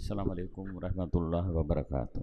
السلام عليڪم ورحمة الله وبرڪاته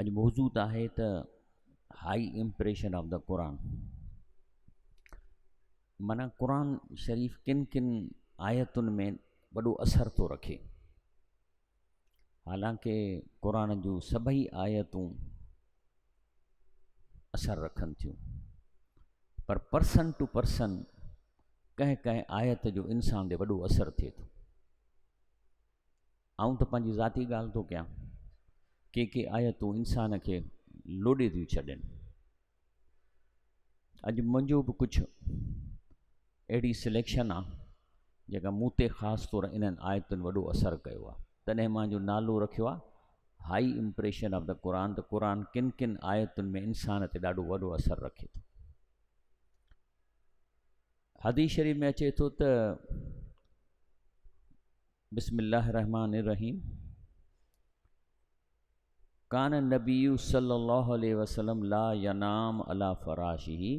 اڄ موضوع ته آهي ته هائي امپريشن آف دا قرآن مانا قرآن شريف ڪن ڪن آيتن ۾ وڏو اثر ٿو رکي حالانڪه قرآن جون سڀئي آيتون اثر رکن ٿيون پر پرسن ٽو پرسن ڪنهن ڪنهن آيت جو انسان تي وڏو اثر ٿئي ٿو آئون ته پنهنجي ذاتي ڳالهه ٿو ڪيان. ڪي ڪي آيتون انسان کي لوڏي ٿيون ڇڏين. اڄ منهنجو به ڪجهه اهڙي سليڪشن آ جيڪا مون تي خاص طور انهن آيتن وڏو اثر ڪيو آ تڏهن مان جو نالو رکيو آ هائي امپريشن آف دا قرآن ته قرآن ڪن ڪن آيتن ۾ انسان تي ڏاڍو وڏو اثر رکي ٿو حديث شريف ۾ اچي ٿو ته بسم الله الرحمٰن الرحيم ڪان النبي صلي الله عليه وسلم لا ينام على فراشي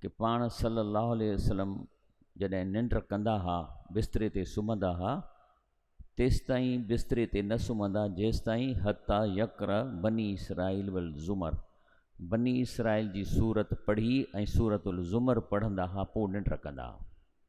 ڪي پاڻ صلي الله عليه وسلم جڏهن ننڊ ڪندا ها بستري تي سمهندا ها تيستائين بستري تي نه سمهندا جيستائين حتي يقر بني اسرائيل والزمر بني اسرائيل جي سورت پڙهي ۽ سورت الزمر پڙهندا ها پوء ننڊ ڪندا ها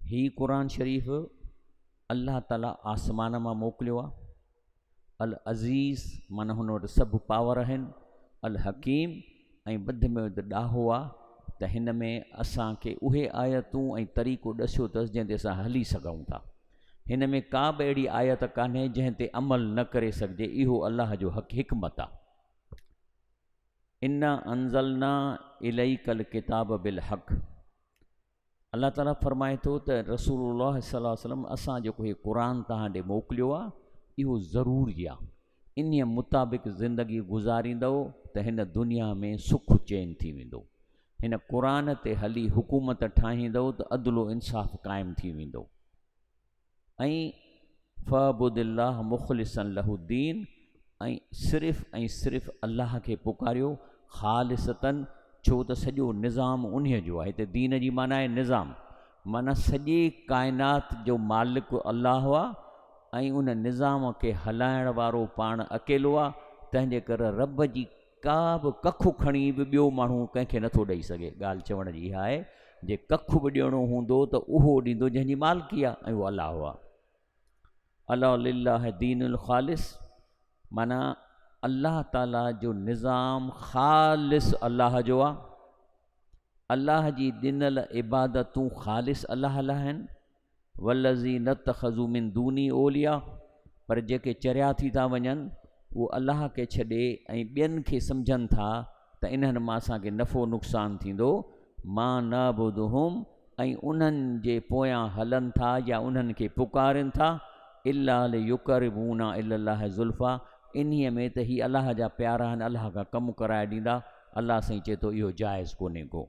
هي قرآن شريف الله تعالي آسمان مان موڪليو آ العزيز من هن وٽ سڀ پاور آهن الحڪيم ۽ ٻڌ ۾ وڌ ڏاهو آ ته هن ۾ اسان کي اهي آيتون ۽ طريقو ڏسيو اٿس جنهن تي اسان هلي سگهون ٿا هن ۾ ڪا به اهڙي آيت ڪانهي جنهن تي عمل نه ڪري سگهجي اهو الله جو حق حڪمت آ انا انزلنا اليك الڪتاب بالحق الله تعالي فرمائي ٿو ته رسول الله صلي الله عليه وسلم اسان جيڪو هي قرآن توهان ڏي موڪليو آ اهو ضرور جي آ انهي مطابق زندگي گذاريندؤ ته هن دنيا ۾ سک چين ٿي ويندو هن قرآن تي هلي حڪومت ٺاهيندؤ ته عدل و انصاف قائم ٿي ويندو. ۽ فعبد الله مخلصا له الدين ۽ صرف ۽ صرف الله کي پڪاريو خالصتا ڇو ته سڄو نظام انهي جو آهي هتي دين جي معنيٰ آهي نظام معنيٰ سڄي ڪائنات جو مالڪ الله آ ۽ ان نظام کي هلائڻ وارو پاڻ اڪيلو آ تنهنجي ڪري رب جي ڪا به ڪک کڻي به ٻيو ماڻهو ڪنهن کي نٿو ڏئي سگهي ڳالهه چوڻ جي اها آهي جي ڪک به ڏيڻو هوندو ته اهو ڏيندو جنهن جي مالڪي آهي ۽ اهو الله آهي الا لله دين الخالص معنی الله تعالي جو نظام خالص الله جو آهي الله جي ڏنل عبادتون خالص الله لاء آهن والذين اتخذوا من دوني اولياء پر جيڪي چريا ٿي ٿا وڃن اهو الله کي ڇڏي ۽ ٻين کي سمجهن ٿا ته انهن مان اسان کي نفعو نقصان ٿيندو ما نعبدهم ۽ انهن جي پويان هلن ٿا يا انهن کي پڪارين ٿا الا ليقربونا الي الله زلفا انهي ۾ ته هي الله جا پيارا آهن الله کان ڪم ڪرائي ڏيندا الله سائين چئي ٿو اهو جائز ڪونهي ڪو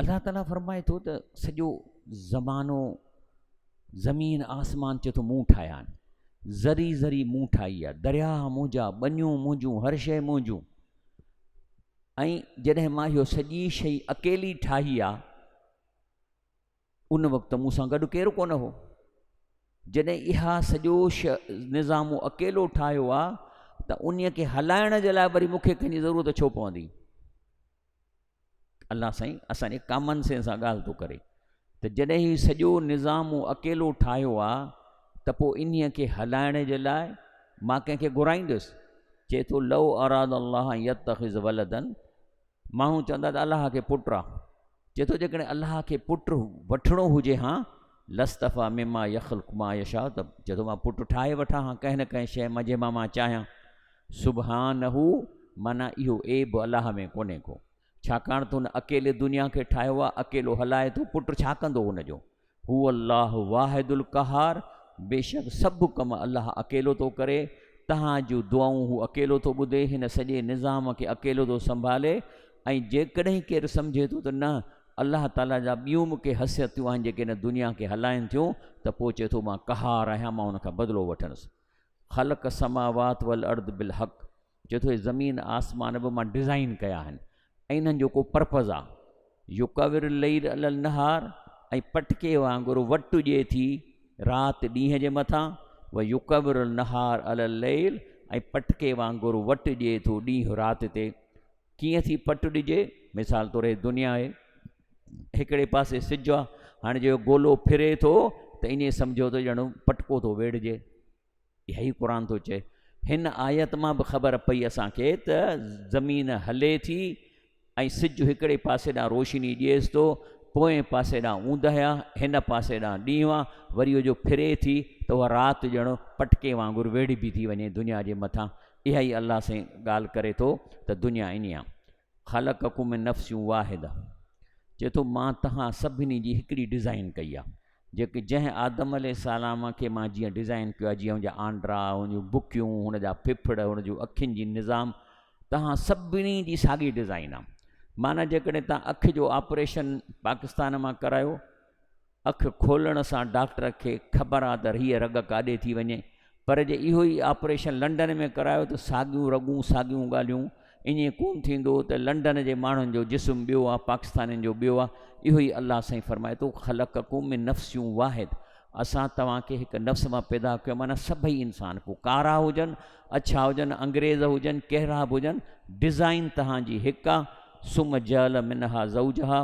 الله تعالي فرمائي ٿو ته سڄو زمانو زمين آسمان چي ٿو مون ٺاهيا آهن ذري ذري مون ٺاهي آهي درياهه منهنجا ٻنيون منهنجون هر شيء منهنجون ۽ جڏهن مان اهو سڄي شيء اڪيلي ٺاهي آهي ان وقت مون سان گڏ ڪير ڪونه هو. جڏهن اها سڄو نظام مون اڪيلو ٺاهيو آ ته انهي کي هلائڻ جي لاء وري مون کي ڪنهن جي ضرورت ڇو پوندي؟ الله سائين اسان جي ڪامن سين سان ڳالهه ٿو ڪري ته جڏهن هي سڄو نظام مون اڪيلو ٺاهيو آ ته پو انهي کي هلائڻ جي لاء مان ڪنهن کي گهرائيندس؟ چئي ٿو لو اراد الله ان يتخذ ولدا ماڻهو چوندا ته الله کي پٽ آ. چئي ٿو جيڪڏهن الله کي پٽ وٺڻو هجي ها لاصطفٰي مما يخلق ما يشاء ته چئي ٿو مان پٽ ٺاهي وٺان ها ڪنهن نه ڪنهن شيء مان جنهن مان مان چاهيان. سبحانه معنيٰ اهو عيب الله ۾ ڪونهي ڪو. ڇاڪاڻ ته هن اڪيلي دنيا کي ٺاهيو آ، اڪيلو هلائي ٿو، پٽ ڇا ڪندو هن جو؟ هو الله واحد القهار بيشڪ سڀ ڪم الله اڪيلو ٿو ڪري، تهان جون دعائون هو اڪيلو ٿو ٻڌي، هن سڄي نظام کي اڪيلو ٿو سنڀالي ۽ جيڪڏهن ڪير سمجهي ٿو ته نه الله تعاليٰ جا ٻيون به ڪي حثيتيون آهن جيڪي هن دنيا کي هلائين ٿيون ته پوء چئي ٿو مان قهار آهيان مان ان کان بدلو وٺندس خلق السماوات والارض بالحق چوي ٿو هي زمين آسمان به مان ڊزائين ڪيا آهن ۽ انهن جو ڪو پرپز آ يڪور اليل علي النهار ۽ پٽڪي وانگر وٽ ڏئي ٿي رات ڏينهن جي مٿان و يڪور النهار علي اليل ۽ پٽڪي وانگر وٽ ڏئي ٿو ڏينهن رات تي ڪيئن ٿي پٽ ڏجي مثال طور هي دنيا آهي هڪڙي پاسي سج آ هاڻي جو گولو ڦري ٿو ته ائين سمجهو ته ڄڻ پٽڪو ٿو ويڙهجي اهو ئي قرآن ٿو چئي. هن آيت مان به خبر پئي اسان کي ته زمين هلي ٿي ۽ سج هڪڙي پاسي ڏانهن روشني ڏيس ٿو، پوئين پاسي ڏانهن اوندهه آ، هن پاسي ڏانهن ڏينهن آ، وري جو ڦري ٿي ته اها رات ڄڻ پٽڪي وانگر ويڙهبي ٿي وڃي دنيا جي مٿان. اها ئي الله سائين ڳالهه ڪري ٿو ته دنيا ائين آ. خلقکم من نفس واحده چئي ٿو مان تهان سڀني جي هڪڙي ڊزائن ڪئي آ جيڪي جنهن آدم عليه السلام کي مان جيئن ڊزائن ڪيو آ جيئن هن جا آنڊرا هن جون بڪيون هن جا ڦڦڙ هن جون اکين جي نظام تهان سڀني جي ساڳي ڊزائن آ معنيٰ جيڪڏهن تهان اک جو آپريشن پاڪستان مان ڪرايو اک کولڻ سان ڊاڪٽر کي خبر آ ته هيء رڳ ڪاڏي ٿي وڃي، پر جي اهو ئي آپريشن لنڊن ۾ ڪرايو ته ساڳيون رڳون ساڳيون ڳالهيون، ائين ڪونه ٿيندو ته لنڊن جي ماڻهن جو جسم ٻيو آ پاڪستانين جو ٻيو آ، اهو ئي الله سائين فرمائي ٿو خلقکم من نفس واحد اسان توهان کي هڪ نفس مان پيدا ڪيو معنيٰ سڀئي انسان پوء ڪارا هجن اڇا هجن انگريز هجن ڪهڙا به هجن ڊزائين تهان جي هڪ آ ثم جعل منها زوجها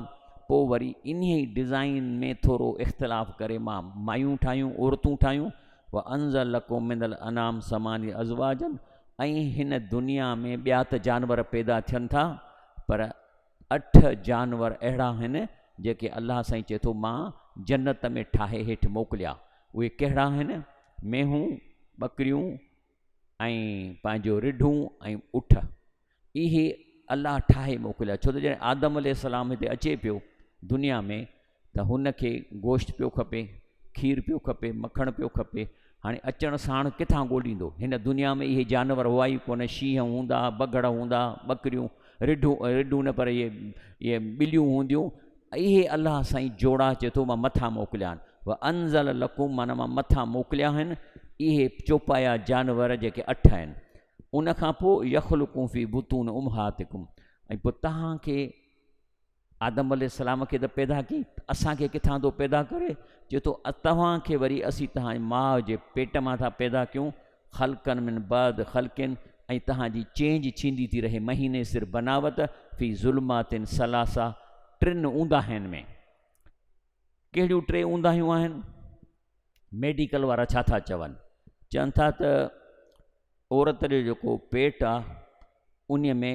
پو وري انهي ڊزائين ۾ ٿورو اختلاف ڪري مان مايون ٺاهيون عورتون ٺاهيون وانزل لڪم من الانعام ثمانيه ازواجا ۽ هن دنيا ۾ ٻيا ته جانور پيدا ٿين ٿا پر اٺ جانور اهڙا آهن جيڪي الله سائين چئي ٿو مان جنت ۾ ٺاهي هيٺ موڪليا اهي ڪهڙا آهن مينهون ٻڪريون ۽ پنهنجو رڍون ۽ اٺ اهي الله ٺاهي موڪليا ڇو ته جڏهن آدم عليه السلام هتي اچي پيو دنيا ۾ ته هن کي گوشت پيو کپي، کير پيو کپي، مکڻ پيو کپي، هاڻي اچڻ ساڻ ڪٿان ڳوليندو؟ هن دنيا ۾ اهي جانور هئا ئي ڪونه، شينهن هوندا، بگهڙ هوندا، ٻڪريون، رڍون، رڍون نه پر اهي ٻليون هونديون، اهي الله سائين جوڙا چي ٿو مان مٿان موڪليان، وانزل لڪم معنيٰ مان مٿان موڪليا آهن، اهي چوپايا جانور جيڪي اٺ آهن، ان کان پوء يخلقون في بطون امهاتڪم ۽ پوء توهان کي آدم عليه السلام کي ته پيدا ڪئي ته اسان کي ڪٿان ٿو پيدا ڪري؟ چئي ٿو توهان کي وري اسين توهان جي ماء جي پيٽ مان ٿا پيدا ڪيون خلقن من بعد خلقن ۽ توهان جي چينج ٿيندي ٿي رهي مهيني سر بناوت في ظلمات ثلاثه ٽن اونداهين ۾ ڪهڙيون ٽي اونداهيون آهن ميڊيڪل وارا ڇا ٿا چون چون ٿا ته عورت جو جيڪو پيٽ آهي ان ۾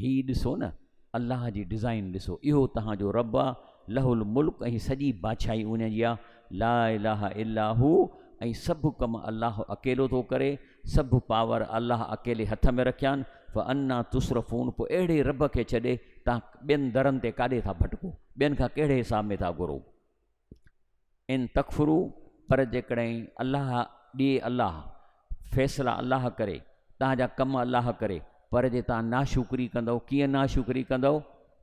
هي ڏسو نه الله جي ڊزائين ڏسو اهو توهان جو رب آ له الملڪ ۽ سڄي بادشاهي ان جي آ لا اله الا هو ۽ سڀ ڪم الله اڪيلو ٿو ڪري سڀ پاور الله اڪيلي هٿ ۾ رکيان فانا تصرفون پوء اهڙي رب کي ڇڏي توهان ٻين درن تي ڪاڏي ٿا ڀٽڪو ٻين کان ڪهڙي حساب ۾ ٿا گهرو. ان تڪفرو پر جيڪڏهن الله ڏي الله فيصلا الله ڪري تان جا ڪم الله ڪري پر جي تان ناشڪري ڪندو ڪيئن ناشڪري ڪندو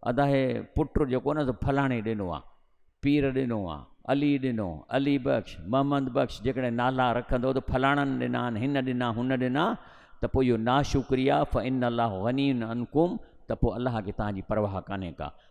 ادا هي پٽ جيڪو نه فلاڻي ڏنو آ پير ڏنو آ علي ڏنو علي بخش محمد بخش جيڪڏهن نالا رکندو ته فلاڻن ڏنا آهن هن ڏنا هن ڏنا ته پوء اهو ناشڪري آ فان الله غني عنكم ته پوء الله کي تان جي پرواهه ڪانهي ڪا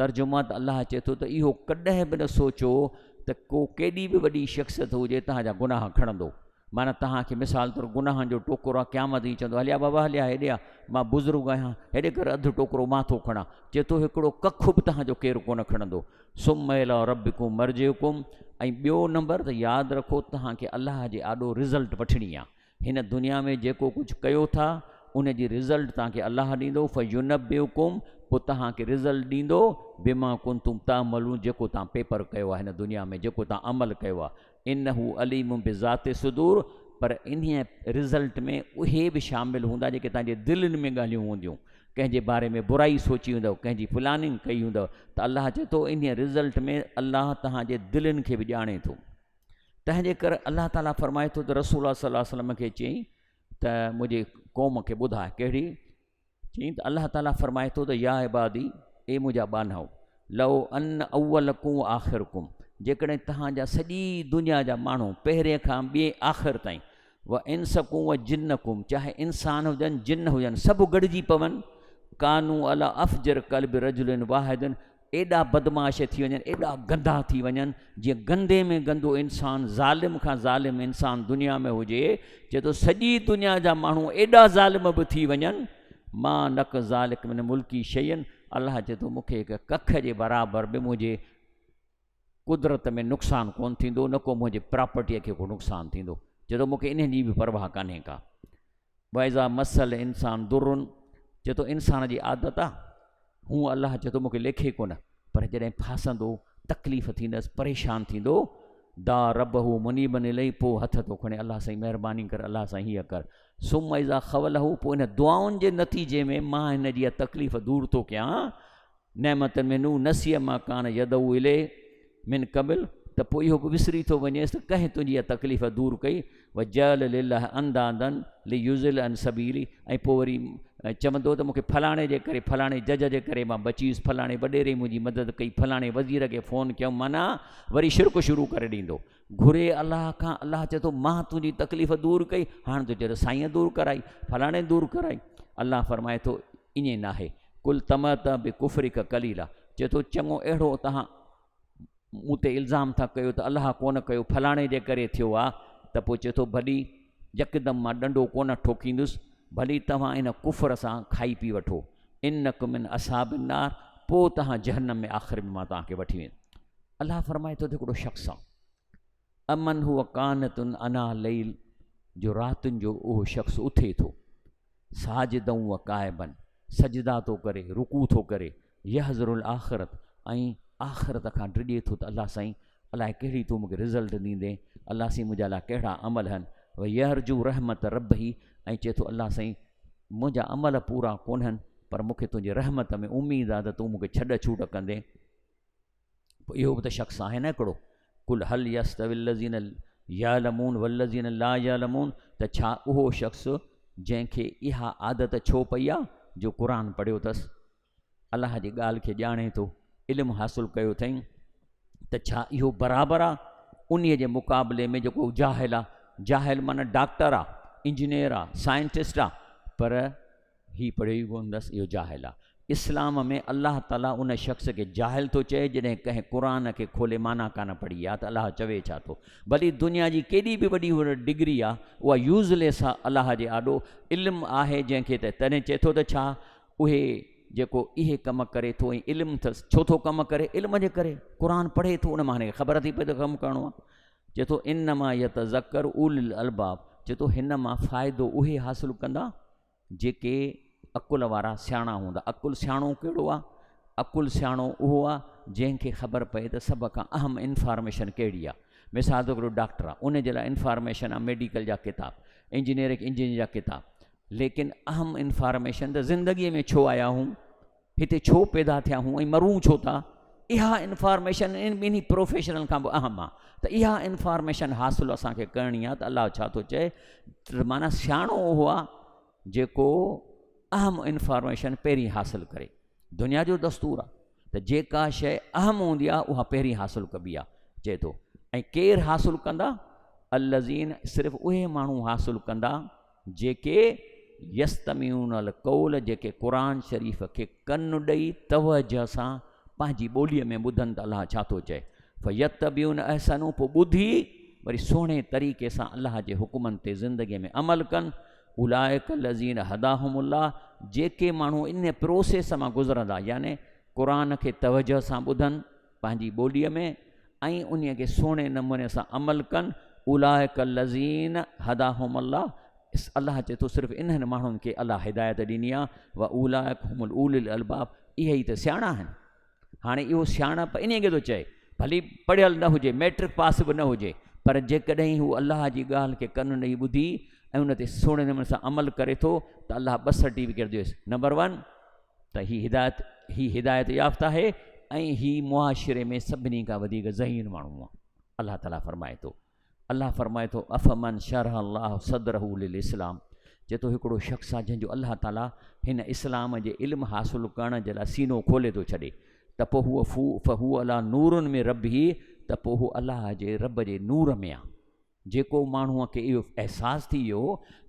ترجمان ته الله چئي ٿو ته اهو ڪڏهن به نه سوچو ته ڪو ڪيڏي به وڏي شخصيت هجي تهان جا گناهه کڻندو معنيٰ تهان کي مثال طور گناهن جو ٽوڪرو آ قيامت ائين چوندو هليا بابا هليا هيڏي آ مان بزرگ آهيان هيڏي ڪر اڌ ٽوڪرو مان ٿو کڻان چئي ٿو هڪڙو ڪک به تهان جو ڪير ڪونه کڻندو سم الا ربڪم مرجعڪم ۽ ٻيو نمبر ته ياد رکو تهان کي الله جي آڏو رزلٽ وٺڻي آ هن دنيا ۾ جيڪو ڪجهه ڪيو ٿا ان جي رزلٽ توهان کي الله ڏيندو فينبئڪم پوء توهان کي رزلٽ ڏيندو بما ڪنتم تعملون جيڪو توهان پيپر ڪيو آهي هن دنيا ۾ جيڪو توهان عمل ڪيو آهي انه عليم بذات الصدور پر انهي رزلٽ ۾ اهي به شامل هوندا جيڪي توهان جي دلين ۾ ڳالهيون هونديون ڪنهن جي باري ۾ برائي سوچي هوندو ڪنهن جي پلاننگ ڪئي هوندو ته الله چئي ٿو انهي رزلٽ ۾ الله توهان جي دلين کي به ڄاڻي ٿو تنهن جي ڪري الله تعالي فرمائي ٿو ته رسول الله صلي الله عليه وسلم کي چيائين ته منهنجي قوم کي ٻڌاء ڪهڙي چيائين ته الله تعالي فرمائي ٿو ته يا عبادي اي منهنجا ٻانهو لو ان اول ڪون آخر ڪون جيڪڏهن توهان جا سڄي دنيا جا ماڻهو پهرين کان ٻئي آخر تائين و انسڪم و جنڪم چاهي انسان هجن جن هجن سڀ گڏجي پون ڪانو علا افجر قلب رجل واحد ايڏا بدمعاش ٿي وڃن ايڏا گندا ٿي وڃن جي گندي ۾ گندو انسان ظالم کان ظالم انسان دنيا ۾ هجي چي ٿو سڄي دنيا جا ماڻهو ايڏا ظالم به ٿي وڃن ما نڪ ذالڪ من ملڪي شين الله چي ٿو مونکي هڪ ڪک جي برابر به منهنجي قدرت ۾ نقصان ڪونه ٿيندو نه ڪو منهنجي پراپرٽيء کي ڪو نقصان ٿيندو چي ٿو مونکي انهن جي به پرواهه ڪانهي ڪا واذا مس الانسان ضر چي ٿو انسان جي عادت آ هو الله چي ٿو مونکي ليکي ڪونه پر جڏهن ڦاسندو تڪليف ٿيندس پريشان ٿيندو دا رب هو مني بني لئي پو هٿ ٿو کڻي الله سائين مهرباني ڪر الله سائين هي ڪر ثم اذا خوله پو ان دعائن جي نتيجي ۾ مان هن جي تڪليف دور ٿو ڪيان نعمتن من او نسي ما ڪان يدعو اليه من قبل ته پوء اهو به وسري ٿو وڃيس ته ڪنهن تنهنجي اها تڪليف دور ڪئي وجعل لله اندادا ليضل عن سبيله ۽ پوء وري چوندو ته مونکي فلاڻي جي ڪري فلاڻي جج جي ڪري مان بچي ويس فلاڻي وڏيري منهنجي مدد ڪئي فلاڻي وزير کي فون ڪيم معنيٰ وري شرڪ شروع ڪري ڏيندو گهري الله کان الله چئي ٿو مان تنهنجي تڪليف دور ڪئي هاڻ تون چئي ته سائين دور ڪرائي فلاڻي دور ڪرائي الله فرمائي ٿو ائين ناهي، قل تمتع بڪفرک قليلا، چئي ٿو چڱو اهڙو توهان مون تي الزام ٿا ڪيو ته الله ڪونه ڪيو فلاڻي جي ڪري ٿيو آ ته پوء چئي ٿو ڀلي يڪدم مان ڏنڊو ڪونه ٺوڪيندس ڀلي توهان ان ڪفر سان کائي پي وٺو انڪم من اصحاب النار پوء توهان جهنم ۾ آخر ۾ مان توهان کي وٺي ويندس الله فرمائي ٿو ته هڪڙو شخص آ امن هو قانتن انا ليل جو راتن جو اهو شخص اٿي ٿو ساجدا وقائبا سجدا ٿو ڪري رڪوع ٿو ڪري يحذر الاخرت ۽ آخرت کان ڊڄي ٿو ته الله سائين الاء ڪهڙي تون مونکي رزلٽ ڏيندين الله سائين منهنجا لاء ڪهڙا عمل هن و يرجو رحمت ربه ۽ چئي ٿو الله سائين منهنجا عمل پورا ڪونهن پر مونکي تنهنجي رحمت ۾ اميد آ ته تون مونکي ڇڏ ڇوٽ ڪندين پوء اهو به ته شخص آهي نه هڪڙو، قل هل يستوي الذين يعلمون والذين لا يعلمون ته ڇا اهو شخص جنهن کي اها عادت ڇو پئي آ جو قرآن پڙهيو اٿس، الله جي ڳالهه کي ڄاڻي ٿو، علم حاصل ڪيو اٿئين ته ڇا اهو برابر آ انهي جي مقابلي ۾ جيڪو جاهل آ، جاهل معنيٰ ڊاڪٽر آ، انجنيئر آ، سائنٽسٽ آ پر هي پڙهيو ئي ڪونه اٿس اهو جاهل آ. اسلام ۾ الله تعالي ان شخص کي جاهل ٿو چئي جڏهن ڪنهن قرآن کي کولي معنيٰ ڪانه پڙهي يا ته الله چوي ڇا ٿو. ڀلي دنيا جي ڪيڏي به وڏي هن وٽ ڊگري آ اها يوز ليس آ الله جي آڏو علم آهي جنهن کي ته تڏهن چئي ٿو ته ڇا اهي جيڪو اهي ڪم ڪري ٿو ۽ علم اٿس ڇو ٿو ڪم ڪري علم جي ڪري قرآن پڙهي ٿو ان مان هن کي خبر ٿي پئي ته ڪم ڪرڻو آ چئي ٿو انما يتذکر اولي الالباب چئي ٿو هن مان فائدو اهي حاصل ڪندا جيڪي عقل وارا سياڻا هوندا. عقل سياڻو ڪهڙو آ؟ عقل سياڻو اهو آ جنهن کي خبر پئي ته سڀ کان اهم انفارميشن ڪهڙي آ. مثال طور هڪڙو ڊاڪٽر آ ان جي لاء انفارميشن آ ميڊيڪل جا ڪتاب، انجنيئر کي انجنيئر جا ڪتاب ليڪن اهم انفارميشن ته زندگي ۾ ڇو آيا آهون؟ هتي ڇو پيدا ٿيا هون ۽ مرون ڇو ٿا اها انفارميشن ان ٻنهي پروفيشنل کان به اهم آ ته اها انفارميشن حاصل اسان کي ڪرڻي آ ته الله ڇا ٿو چئي ته معنی سياڻو اهو آ جيڪو اهم انفارميشن پهرين حاصل ڪري دنيا جو دستور آ ته جيڪا شيء اهم هوندي آ اها پهرين حاصل ڪبي آ چئي ٿو ۽ ڪير حاصل ڪندا الذين صرف اهي ماڻهو حاصل ڪندا جيڪي يستمعون القول جيڪي قرآن شريف کي ڪن ڏئي توجه سان پنهنجي ٻوليء ۾ ٻڌن ته الله ڇا ٿو چئي فيتبعون احسنه پوء ٻڌي وري سهڻي طريقي سان الله جي حڪمن تي زندگي ۾ عمل ڪن اولئک الذين هداهم الله جيڪي ماڻهو ان پروسيس مان گذرندا يعني قرآن کي توجه سان ٻڌن پنهنجي ٻوليء ۾ ۽ انهيء کي سهڻي نموني سان عمل ڪن، اولئک الذين هداهم الله، الله چئي ٿو صرف انهن ماڻهن کي الله هدايت ڏني آهي، واولئک هم اولي الالباب، اهي ئي ته سياڻا آهن. هاڻي اهو سياڻپ انهيء کي ٿو چئي، ڀلي پڙهيل نه هجي، مئٽرڪ پاس به نه هجي، پر جيڪڏهن هو الله جي ڳالهه کي ڪن ڏئي ٻڌي ۽ ان تي سهڻي نموني سان عمل ڪري ٿو ته الله ٻه سرٽيفڪيٽ ڏيوس، نمبر ون، ته هي هدايت هي هدايت يافته آهي ۽ هي معاشري ۾ سڀني کان وڌيڪ ذهين ماڻهو آهي الله تعالي فرمائي ٿو الله فرمائي ٿو افمن شرح الله صدره للاسلام چي ٿو هڪڙو شخص آهي جنهن جو الله تعالي هن اسلام جي علم حاصل ڪرڻ جي لاء سينو کولي ٿو ڇڏي ته پوء هو فو فهو الله نورن ۾ رب هي ته پوء هو الله جي رب جي نور ۾ آهي جيڪو ماڻهوء کي اهو احساس ٿي ويو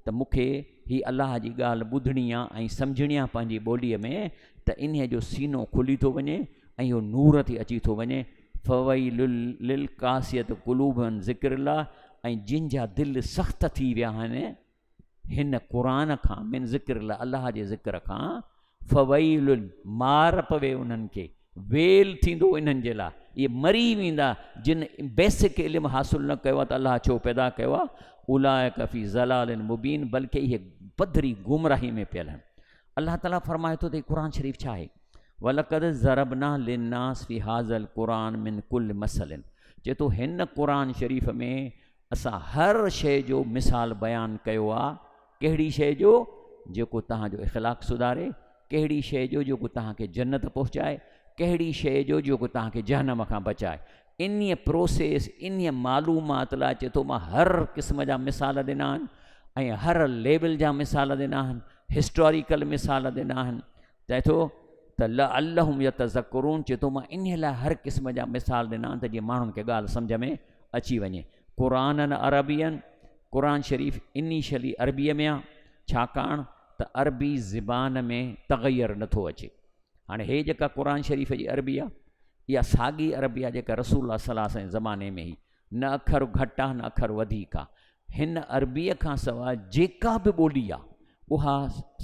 ته مون کي هي الله جي ڳالهه ٻڌڻي آ ۽ سمجهڻي آ پنهنجي ٻوليء ۾ ته انهيء جو سينو کلي ٿو وڃي ۽ اهو نور ٿي اچي ٿو وڃي، فويل للقاسية قلوبهم ذڪر الله، ۽ جن جا دل سخت ٿي ويا آهن، هن، قرآن، کان، من ذڪر الله، الله جي ذڪر کان، فويل، مار پوي انهن کي، ويل ٿيندو انهن جي لاء، اهي مري ويندا جن بيسڪ علم حاصل نه ڪيو آهي ته الله ڇو پيدا ڪيو آهي، اولئک في ضلال مبين بلڪ اهي پڌري گمراهي ۾ پيل آهن. الله تعالي فرمائي ٿو ته هي قرآن شريف ڇا آهي؟ ولقد ضربنا للناس في هذا القرآن من كل مثل چي ٿو هن قرآن شريف ۾ اسان هر شيء جو مثال بيان ڪيو آ، ڪهڙي شيء جو جيڪو توهان جو اخلاق سڌاري، ڪهڙي شيء جو جيڪو توهان کي جنت پهچائي، ڪهڙي شيء جو جيڪو توهان کي جهنم کان بچائي. انهيء پروسيس، انهيء معلومات لاء چي ٿو مان هر قسم جا مثال ڏنا آهن ۽ هر ليول جا مثال ڏنا آهن، هسٽاريڪل مثال ڏنا آهن، چي ٿو ته لعلهم يتذڪرون چي ٿو مان انهيء لاء هر قسم جا مثال ڏنا آهن ته جيئن ماڻهن کي ڳالهه سمجهه ۾ اچي وڃي. قرآنن عربين، قرآن شريف انيشلي عربيء ۾ آ، ڇاڪاڻ ته عربي زبان ۾ تغير نه ٿو اچي. هاڻي هيء جيڪا قرآن شريف جي عربي آ، اها ساڳي عربي آ جيڪا رسول الله صلي الله عليه وسلم جي زماني ۾ هئي. نه اکر گهٽ آ، نه اکر وڌيڪ آ. هن عربيء کان سواء جيڪا به ٻولي آ، اها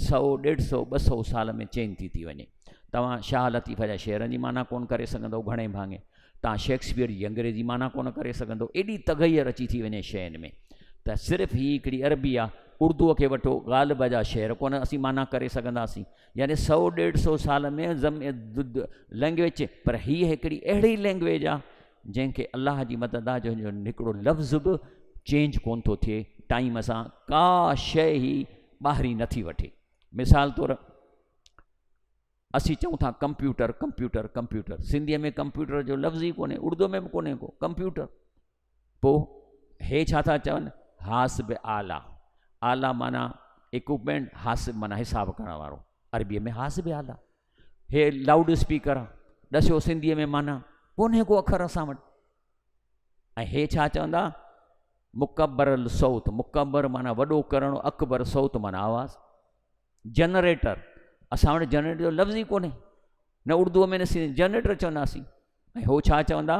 سؤ، ڏيڍ سؤ، ٻه سؤ سال ۾ چينج ٿي ٿي وڃي. توهان شاهه لطيف جا شعرن جي معنيٰ ڪونه ڪري سگهندؤ گهڻي ڀاڱي توهان شيڪسپيئر جي انگريزي معنيٰ ڪونه ڪري سگهندؤ ايڏي تغير اچي ٿي وڃي شين ۾ ته صرف هي هڪڙي عربي آ، اردوء کي وٺو غالب جا شعر ڪونه اسين معنيٰ ڪري سگهنداسين يعني سؤ، ڏيڍ سؤ سال ۾ لينگويج پر هي هڪڙي اهڙي لينگويج آ جنهن کي الله جي مدد آ جنهن جو هڪڙو لفظ به چينج ڪون ٿو ٿئي ٽائيم سان ڪا شئي هي ٻاهرين نه ٿي وٺي مثال طور اسين چئون ٿا ڪمپيوٽر ڪمپيوٽر ڪمپيوٽر سنڌيء ۾ ڪمپيوٽر جو لفظ ئي ڪونهي اردو ۾ به ڪونهي ڪو ڪمپيوٽر پوء هي ڇا ٿا چون حاسب آلا آلا معنيٰ اڪوپمينٽ حاسب معنيٰ حساب ڪرڻ وارو عربيء ۾ حاسب آلا هي لائوڊ اسپيڪر آ ڏسيو سنڌيء ۾ معنيٰ ڪونهي ڪو اکر اسان وٽ ۽ هي ڇا چوندا مڪبر الصوت مڪبر معنی وڏو ڪرڻ اڪبر صوت معنی آواز جنريٽر اسان وٽ جنريٽر جو لفظ ئي ڪونهي نه اردو ۾ نه سنڌي جنريٽر چونداسين ۽ هو ڇا چوندا؟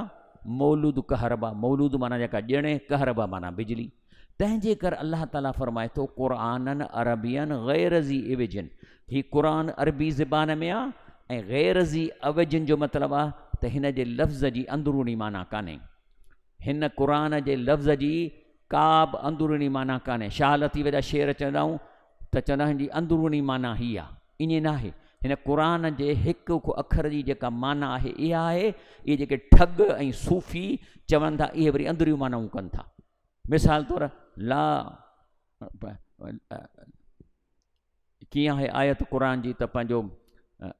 مولود ڪهربا، مولود معنيٰ جيڪا ڄڻي، ڪهربا معنيٰ بجلي. تنهن جي ڪر الله تعاليٰ فرمائي ٿو، قرآنًا عربيًا غير ذي عوج، هي قرآن عربي زبان ۾ آ ۽ غير ذي عوج جو مطلب آ ته هن جي لفظ جي اندروني معنيٰ ڪانهي. هن قرآن جي لفظ جي ڪابه اندروني معنيٰ ڪانهي. شاهه لطيف جا شعر چوندائون. ته چنه جي اندروني معنيٰ هي آ، ائين ناهي. هن قرآن جي هڪ هڪ اکر جي جيڪا معنيٰ آهي، اها آهي. اهي جيڪي ٺڳ ۽ صوفي چون ٿا، اهي وري اندريون معنائون ڪن ٿا. مثال طور لا ڪيئن آهي آيت قرآن جي ته پنهنجو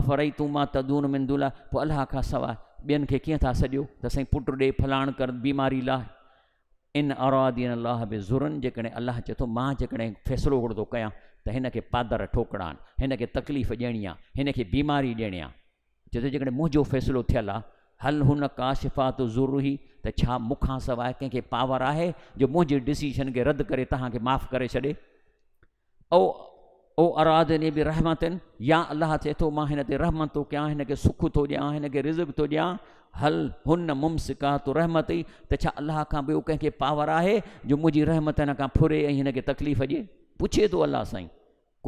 افرئيتم ما تدعون من دون الله پوء الله کان سواء ٻين کي ڪيئن ٿا سڏيو ته سائين پٽ ڏي فلاڻ ڪر بيماري لاء ان ارادين الله به ذرن جيڪڏهن الله چي ٿو مان جيڪڏهن فيصلو اهڙو ٿو ڪيان ته هن کي پادر ٺوڪڙا آهن هن کي تڪليف ڏيڻي آهي هن کي بيماري ڏيڻي آهي چي ٿو جيڪڏهن منهنجو فيصلو ٿيل آهي هل هن ڪاشفات ضروري ته ڇا مونکان سواء ڪنهن کي پاور آهي جو منهنجي ڊسيشن کي رد ڪري توهان کي معاف ڪري ڇڏي او او ارادني برحمت يا الله چئي ٿو مان هن تي رحمت ٿو ڪيان هن کي سک ٿو ڏيان هن کي رزق ٿو ڏيان هل هن ممسڪات رحمت ئي ته ڇا الله کان ٻيو ڪنهن کي پاور آهي جو منهنجي رحمت هن کان ڦري ۽ هن کي تڪليف ڏي پڇي ٿو الله سائين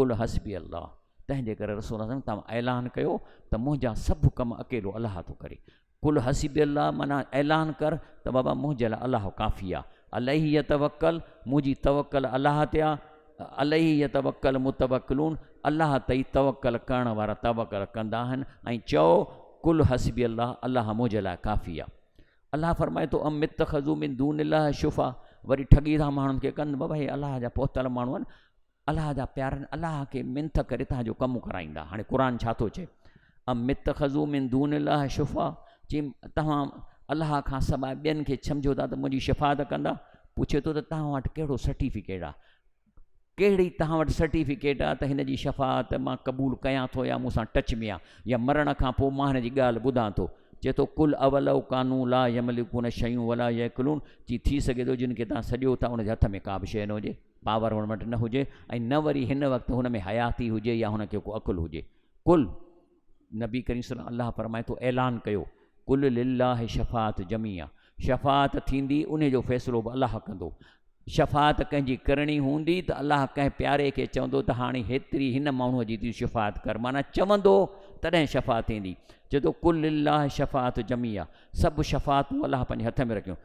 قل حسبي الله تنهن جي ڪري رسول الله توهان اعلان ڪيو ته منهنجا سڀ ڪم اڪيلو الله ٿو ڪري قل حسبي الله معنيٰ اعلان ڪر ته بابا منهنجي لاء الله ڪافي آ. عليه يتوڪل منهنجي توڪل الله تي آ. عليه يتوڪل المتوڪلون الله تي ئي توڪل ڪرڻ وارا توڪل ڪندا آهن ۽ چئو قل حسبي الله الله منهنجي لاء ڪافي آ. الله فرمائي ٿو ام اتخذو من دون الله شفعاء وري ٺڳي ٿا ماڻهن کي ڪن بابا هي الله جا پهتل ماڻهو آهن. الله جا پيارن الله کي منٿ ڪري تنهن جو ڪم ڪرائيندا هاڻي قرآن ڇا ٿو چئي ام اتخذو من دون الله شفا چي توهان الله کان سواء ٻين کي سمجھو ٿا ته منهنجي شفاعت ڪندا پڇي ٿو ته توهان وٽ ڪهڙو سرٽيفڪيٽ آهي ڪهڙي توهان وٽ سرٽيفڪيٽ آهي ته هن جي شفاعت مان قبول ڪيان ٿو يا مون سان ٽچ ۾ آهي يا مرڻ کان پوء مان هن جي ڳالهه ٻڌان ٿو چي ٿو کل اول او قانو لا يملڪون شيون ولا يعقلون چي ٿي سگھي ٿو جن کي تان سڏيو ٿا ان جي هٿ ۾ ڪا به شيء نه هجي پاور هن وٽ نه هجي ۽ نه وري هن وقت هن ۾ حياتي هجي يا هن کي ڪو عقل هجي قل نبي ڪريم صلي الله فرمائي ٿو اعلان ڪيو قل لله شفاعت جميع شفاعت ٿيندي ان جو فيصلو به الله ڪندو شفاعت ڪنهن جي ڪرڻي هوندي ته الله ڪنهن پياري کي چوندو ته هاڻي هيتري هن ماڻهو جي تي شفاعت ڪر معنی چوندو تڏهن شفاعت ٿيندي چوي ٿو قل لله شفاعت جميع سڀ شفاعتون الله پنهنجي هٿ ۾ رکيون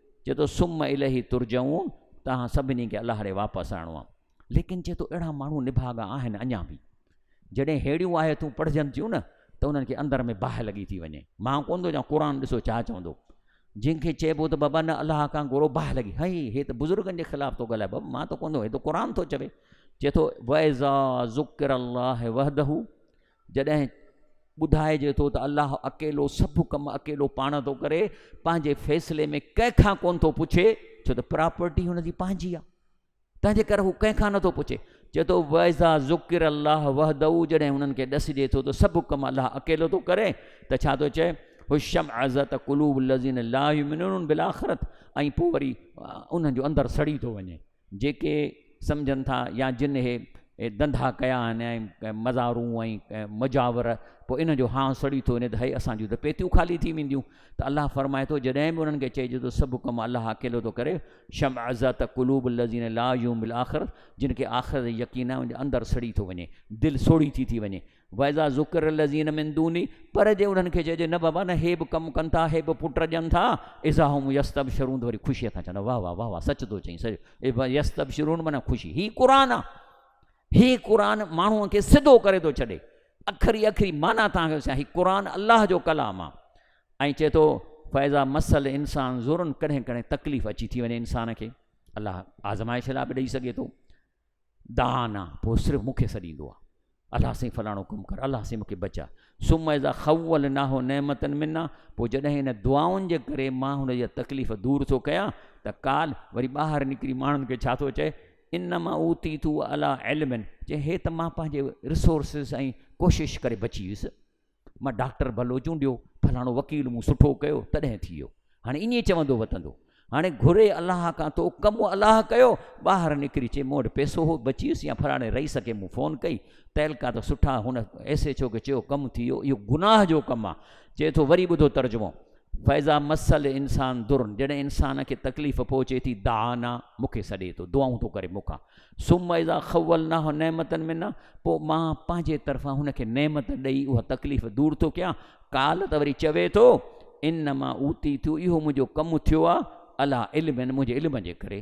چئي ٿو ثم اليه ترجعون توهان سڀني کي الله ڏي واپس آڻو آ ليڪن چئي ٿو اهڙا ماڻهو نڀاڳا آهن اڃا به جڏهن هيڙيون آيتون پڙهجن ٿيون نه ته انهن کي اندر ۾ باهه لڳي ٿي وڃي مان ڪون ٿو چوان قرآن ڏسو ڇا چوندو جن کي چئبو ته بابا نه الله کان گورو باهه لڳي هئي هي ته بزرگن جي خلاف ٿو ڳالهائي بابا مان ته ڪون ٿو هي ته قرآن ٿو چوي چئي ٿو ويزا ذڪر الله وحده جڏهن ٻڌائجي ٿو ته الله اڪيلو سڀ ڪم اڪيلو پاڻ ٿو ڪري پنهنجي فيصلي ۾ ڪنهن کان ڪون ٿو پڇي ڇو ته پراپرٽي هن جي پنهنجي آهي تنهنجي ڪري هو ڪنهن کان نٿو پڇي چي ٿو ويزا ذڪر الله وحدو جڏهن هنن کي ڏسجي ٿو ته سڀ ڪم الله اڪيلو ٿو ڪري ته ڇا ٿو چئي هو شم عزت قلوب الذين لا يؤمنون بالآخرت ۽ پوء وري انهن جو اندر سڙي ٿو وڃي جيڪي سمجهن ٿا يا جن اهي ڌنڌا ڪيا آهن ۽ مزارون ۽ مجاور پوء انهن جو هانء سڙي ٿو وڃي ته هي اسان جون ته پيتيون خالي ٿي وينديون ته الله فرمائي ٿو جڏهن به انهن کي چئجي ٿو سڀ ڪم الله اڪيلو ٿو ڪري شمع ذات قلوب الذين لا يوم الاخر جن کي آخرت يقين آهي ان جي اندر سڙي ٿو وڃي دل سوڙهي ٿي ٿي وڃي واذا ذڪر الذين من دوني پر جي انهن کي چئجي نه بابا نه هي به ڪم ڪن ٿا هي به پٽ ڏين ٿا اذا هم يستبشرون وري خوشي سان چون واه واه واه واه سچ ٿو چئين سچ يستبشرون معنی خوشي هي قرآن آ هي قرآن ماڻهو کي سڌو ڪري ٿو ڇڏي اکري اکري معنی تان کي هي قرآن الله جو ڪلام آ ۽ چئي ٿو فيضا مسل انسان ضرور ڪڏهن ڪڏهن تڪليف اچي ٿي وڃي انسان کي الله آزمائش لا به ڏئي سگهي ٿو دانه پوء صرف مون کي سڏيندو آ الله سائين فلاڻو ڪم ڪر الله سائين مونکي بچاء ثم اذا خولناه نعمتا منا پوء جڏهن ان دعائن جي ڪري مان هن جا تڪليف دور ٿو ڪيان ته قال وري ٻاهر نڪري ماڻهن کي ڇا ٿو چئي انما اوتيتو علی علم چئي هي ته مان پنهنجي رسورسز ۽ ڪوشش ڪري بچي ويس مان ڊاڪٽر ڀلو چونڊيو فلاڻو وڪيل مون سٺو ڪيو تڏهن ٿي ويو هاڻي ائين چوندو وتندو هاڻي گهري الله کان تو ڪم الله ڪيو ٻاهر نڪري چي مون وٽ پيسو هو بچي ويس يا فلاڻي رئيس کي مون فون ڪئي تعلقا ته سٺا هن ايس ايچ او کي چيو ڪم ٿي ويو اهو گناهه جو ڪم آ چي ٿو وري ٻڌو ترجمو فاذا مس الانسان ضر جڏهن انسان کي تڪليف پهچي ٿي دعانا مون کي سڏي ٿو دعائون ٿو ڪري مون کان ثم اذا خولناه نعمتن منا پوء مان پنهنجي طرفان هن کي نعمت ڏيئي اها تڪليف دور ٿو ڪيان قال ته وري چوي ٿو انما اوتي ٿيو اهو منهنجو ڪم ٿيو آهه الا علم منهنجي علم جي ڪري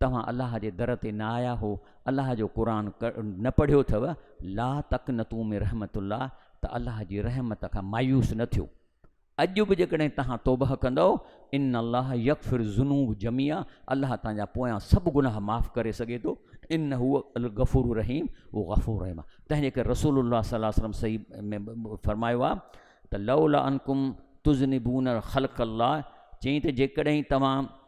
توهان الله جي در تي نه آيا هو، الله جو قرآن نه پڙهيو اٿو، لا تقنطو من رحمت الله ته الله جي رحمت کان مايوس نه ٿيو. اڄ به جيڪڏهن توهان توبهه ڪندؤ، ان الله يغفر الذنوب جميعا الله توهان جا پويان سڀ گناهه معاف ڪري سگهي ٿو، انه هو الغفور الرحيم هو غفور رحيم آهي. تنهنجي ڪري رسول الله صلي الله عليه وسلم صحيح ۾ فرمايو آهي ته لولا انڪم تذنبون خلق الله چيائين ته جيڪڏهن توهان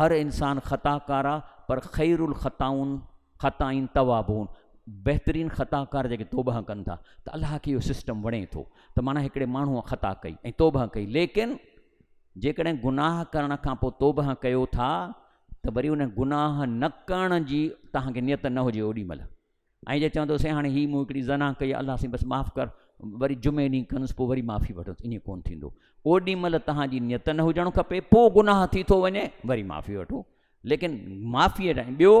هر انسان خطا ڪار آ پر خير الخطائون خطائين توابون بهترين خطا ڪار جيڪي توبه ڪن ٿا ته الله کي اهو سسٽم وڻي ٿو ته معنيٰ هڪڙي ماڻهوء خطا ڪئي ۽ توبه ڪئي ليڪن جيڪڏهن گناهه ڪرڻ کان پوء توبه ڪيو ٿا ته وري ان گناهه نه ڪرڻ جي توهان کي نيت نه هجي اوڏي مهل ۽ جي چوندو سائين هاڻي هي مون هڪڙي زنا ڪئي الله سائين بس معاف ڪر وري جمعي ڏينهن ڪندس پوء وري معافي وٺندس ائين ڪون ٿيندو اوڏي مهل توهان جي نيت نه هجڻ کپي پوء گناهه ٿي ٿو وڃي وري معافي وٺو ليڪن معافي ۽ ٻيو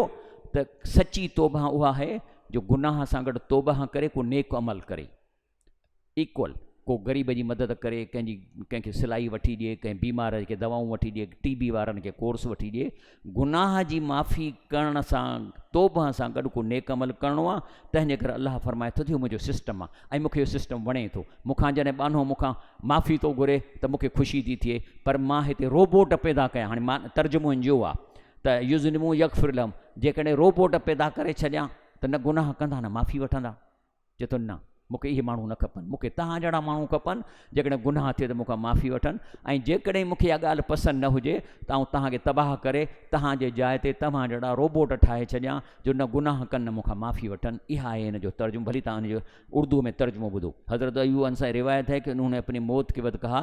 ته سچي توبه اها آهي جو گناهه سان گڏ توبه ڪري ڪو نيڪ عمل ڪري ايڪول ڪو غريب جي مدد ڪري ڪنهن جي ڪنهن کي سلائي وٺي ڏئي ڪنهن بيمار کي دوائون وٺي ڏئي ٽي بي وارن کي ڪورس وٺي ڏئي گناهه جي معافي ڪرڻ سان توبه سان گڏ ڪو نيڪ عمل ڪرڻو آ تنهن جي ڪري الله فرمائي ٿو ته منهنجو سسٽم آ ۽ مونکي اهو سسٽم وڻي ٿو مونکان جڏهن ٻانهو مونکان معافي ٿو گهري ته مونکي خوشي ٿي ٿئي پر مان هتي روبوٽ پيدا ڪيا هاڻي مان ترجمو هن جو آ ته يذنبون يغفر لهم جيڪڏهن روبوٽ پيدا ڪري ڇڏيان ته نه گناهه ڪندا نه معافي وٺندا چئي ٿو، نه، مون کي اهي ماڻهو نه کپن، مون کي توهان جهڙا ماڻهو کپن، جيڪڏهن گناهه ٿئي ته مون کان معافي وٺن ۽ جيڪڏهن مون کي اها ڳالهه پسند نه هجي ته آئون توهان کي تباهه ڪري توهان جي جاء تي توهان جهڙا روبوٽ ٺاهي ڇڏيان جو نه گناهه ڪن نه مون کان معافي وٺن. اها آهي ان جو ترجمو، ڀلي توهان ان جو اردوء ۾ ترجمو ٻڌو. حضرت ايوب انصاري روايت هي ڪي انهون ني اپني موت ڪي وقت ڪها،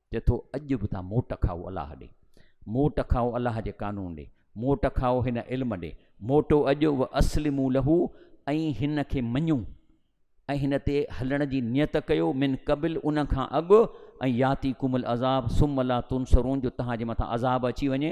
چئي ٿو اڄ به تان موٽ کائو الله ڏي، موٽ کائو الله جي قانون ڏي، موٽ کائو هن علم ڏي، موٽو اڄ و اسلموا له ۽ هن کي مڃو ۽ هن تي هلڻ جي نيت ڪيو من قبل ان کان اڳ ان ياتيڪم العذاب ثم لا تنصرون جو توهان جي مٿان عذاب اچي وڃي.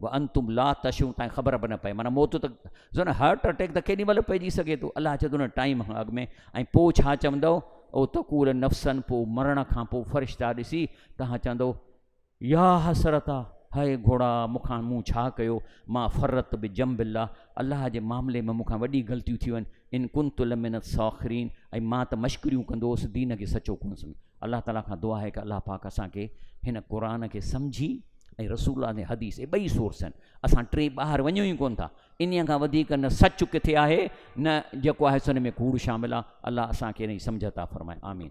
وانتم لا تشعرون تائين خبر به نه پئي معنيٰ موت ته زن هارٽ اٽيڪ ته ڪيڏي مهل پئجي سگهي ٿو الله چي ٿو نه ٽائيم کان اڳ ۾ ۽ پوء ڇا چوندو او تقول نفسن پوء مرڻ کان پوء فرشتا ڏسي توهان چوندو يا حسرتا هائي گهوڙا مون کان مون ڇا ڪيو مان فرت به جنب الله الله جي معاملي ۾ مون کان وڏي غلطيون ٿيون آهن ان ڪنت لمن الساخرين ۽ مان ته مشڪريون ڪندو هوس دين کي سچو ڪونه سمجهيو الله تعالي کان دعا آهي ڪه الله پاڪ اسان کي هن قرآن کي سمجهي ۽ رسول الله جي حديث اهي ٻئي سورس آهن اسان ٽي ٻاهر وڃون ئي ڪونه ٿا ان کان وڌيڪ نه سچ ڪٿي آهي نه جيڪو آهي سن ۾ ڪوڙ شامل آهي الله اسان کي ان جي سمجھ عطا فرمائي آمين